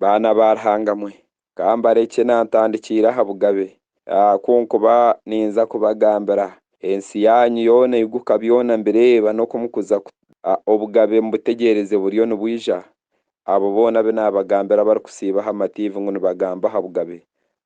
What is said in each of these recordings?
Baana ba Ruhanga mwe, kambarekye nantandikiira aha bugabe, ku nkuba ninza kubagambira, ensi yaanyu yoona eiguka byona mbireeba n'oku mukuza ku, obugabe mubutegyereze buriyo nibwija, abo boona abu naabagambira abarikusiiba aha matiivi ngu nibagamba aha bugabe,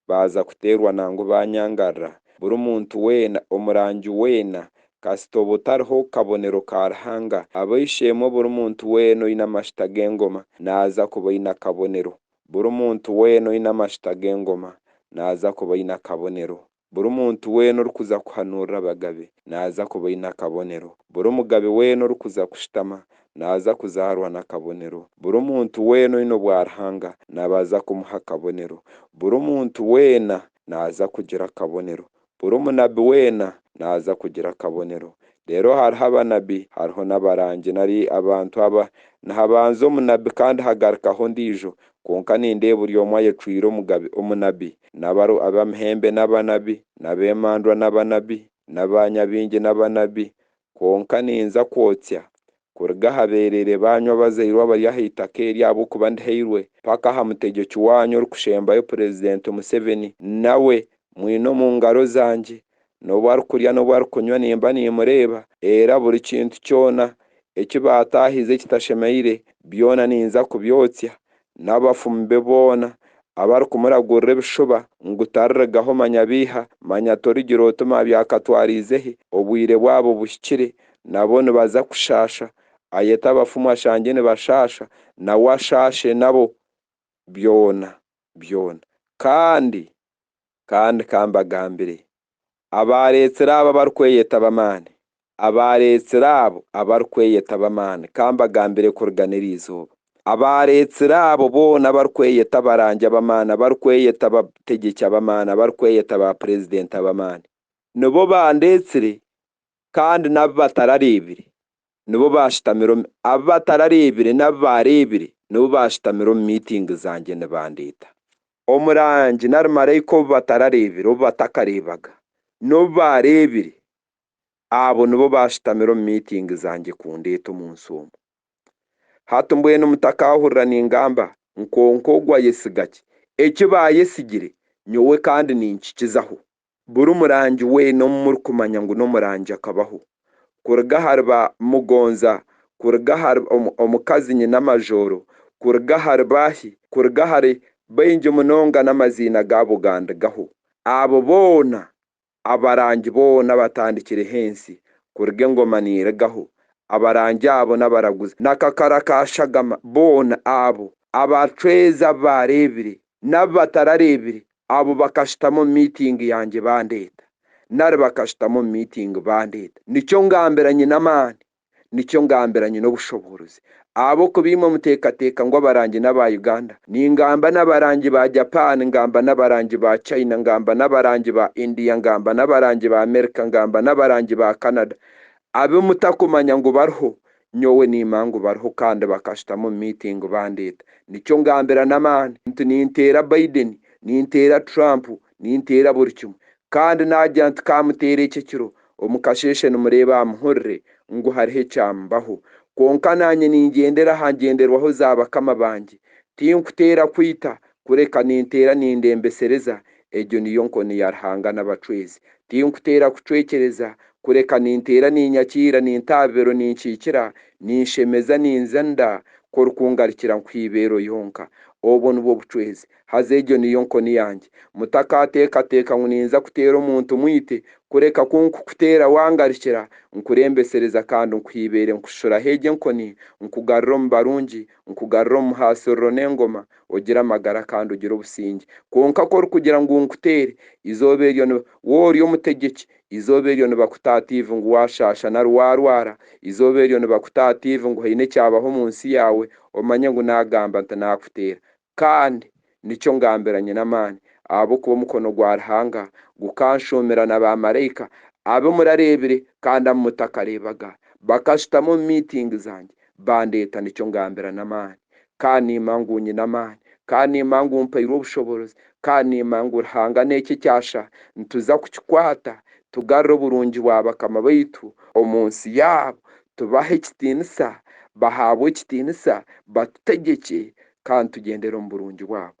Baaza kuteerwa nangwa baanyangarira, buri muntu weena, omurangi weena, kasita oba otariho kabonero ka Ruhanga, ab'eishe-emwe buri muntu weena oine amashuta g'engoma naaza kuba aine akabonero, buri muntu weena oine amashuta g'engoma naaza kuba aine akabonero, buri muntu weena orikuza kuhanuurira abagabe naaza kuba aine akabonero, buri mugabe weena orikuza kushutama naaza kuzaarwa n'akabonero. Buri muntu weena oine obwa Ruhanga nabaza kumuha akabonero. Buri muntu weena naaza kugira akabonero. Buri munabi weena naaza kugira akabonero. Reero hariho abanabi, hariho n'abarangi nari abantu aba, nihabanza omunabi kandi hagarukaho ondiijo, kwonka nindeeba buri omwe ayecwire omugabe, omunabi, n'abaru, ab'amahembe n'abanabi, n'ab'emandwa n'abanabi, n'aba nyabingi n'abanabi, Kwonka ninza kwotsya kuruga aha beerere baanyu abazairwe abari aha itaka eri ahabw'okuba ndihairwe mpaka aha mutegyeki waanyu orikushembayo Purezidenti Museveni. Nawe mwine omu ngaro zangye. N'obu arikurya n'obu arikunywa nimba nimureeba, era buri kintu kyona eki baataahize ekitashemeire, byona ninza kubyotsya, n'abafumu be boona, abarikumuragurira ebishuba ngu taririgaho manya biiha, manya torigira oti mabyakatwariize hi, obwire bwabo buhikire, nabo nibaza kushaasha, ayete abafumu ashangye nibashaasha, nawe ashaashe nabo, byona byona. Kandi. kandi ka mbagambire, abaareetsire abo abarikweyeta ab'amaani, abaareetsire abo abarikweyeta ab'amaani, ka mbagambire kurigana eri izooba, abaareetsire abo boona abarikweyeta abarangi ab'amaani, abarikweyeta abategyeki ab'amaani, abarikweyeta baapureezidenti ab'amaani, nibo baandeetsire, kandi n'abu batarareebire nibo baashutamire omu abu batarareebire n'abu baareebire nibo baashutamire omu miitingi zangye nibandeeta. Omurangi nari maraika obu batarareebire, obu batakareebaga, n'obu baareebire, abo nibo baashutamire omu miitingi zangye kundeeta omu nsi omu. Hati mbwenu mutakaahurira ningamba nkonka ogu ayesiga ki eki baayesigire, nyowe kandi ninkikizaho. Buri murangi weena ou murikumanya ngu n'omurangi akabaho, kuruga ahari ba Mugonza, kuruga ahari omukazi Nyinamajooro, kuruga ahari baahi, kuruga ahari baingi munonga n'amaziina gaabo gandigaho. Abo boona, abarangi boona abatandikireho ensi, kuruga engoma nirigaho, abarangi abo n'abaraguzi, n'akakara ka Shagama, boona abo, abacwezi abu baareebire, n'abu batarareebire, abo bakashutama omu miitingi yangye bandeeta, nari bakashutama omu miitingi bandeeta. Nikyo ngambira nyine amaani, nikyo ngambira nyine obushoboorozi. Ahabw'okuba imwe muteekateeka ngu abarangi n'aba Uganda, ningamba n'abarangi ba Japan, ngamba n'abarangi ba China, ngamba n'abarangi ba India, ngamba n'abarangi ba Amerika, ngamba n'abarangi ba Canada, abu mutakumanya ngu bariho, Nyowe niima ngu bariho kandi bakashutama omu miitingi bandeeta. Nikyo ngambira n'amaani nti ninteera Biden, ninteera Trump, ninteera buri kimwe. Kandi naagira nti kaamuteera eki ekiro, omu kasheeshe nimureeba aha muhurire ngu hariho ekyambaho. Kwonka naanye ningyendera aha ngyenderwaho za bakama bangye. Tinkuteera kwita, kureka ninteera nindembesereza Egyo niyo nkoni ya Ruhanga n'abacwezi. Tinkuteera kucwekyereza, kureka ninteera ninyakiira, ninta abibero ninkiikira, ninshemeza ninza nda, ku orikungarikira nkuha eibeero yonka. Obwo nibwo bucwezi. Haza egyo niyo nkoni yangye. Mutakaateekateeka ngu ninza kuteera omuntu mwite, kureka ku nkukuteera wangarikira, nkureembesereza kandi nkuha eibeere nkushushuraho egyo enkoni, nkugarura omu barungi, nkugarura omu muhaasiriro n'engoma, ogire amagara kandi ogire obusingye. Kwonka ku orikugira ngu nkuteere, eizooba eryo ni, wowe ori omutegyeki, eizooba eryo nibakuta aha tiivi ngu waashaasha nari waarwara, eizooba eryo nibakuta aha tiivi ngu haine ekyabaho omu nsi yaawe, omanye ngu naagamba nti naakuteera. Kandi nikyo ngambira Nyinamaani, ahabw'okuba omukono gwa Ruhanga gukanshuumira na baamaraika, abu murareebire kandi abu mutakareebaga, bakashutama omu miitingi zangye, bandeeta, nikyo ngambira n'amaani. Ka niimanya ngu nyine amaani. Ka niimanya ngu mpairwe obushoborozi. Ka niimanya ngu Ruhanga n'eki ekyasha nituza kukikwata, tugarure oburungi bwa bakama baitu omu nsi yaabo, tubahe ekitiinisa, bahaabwe ekitiinisa, batutegekye, kandi tugyendere omu burungi bwabo.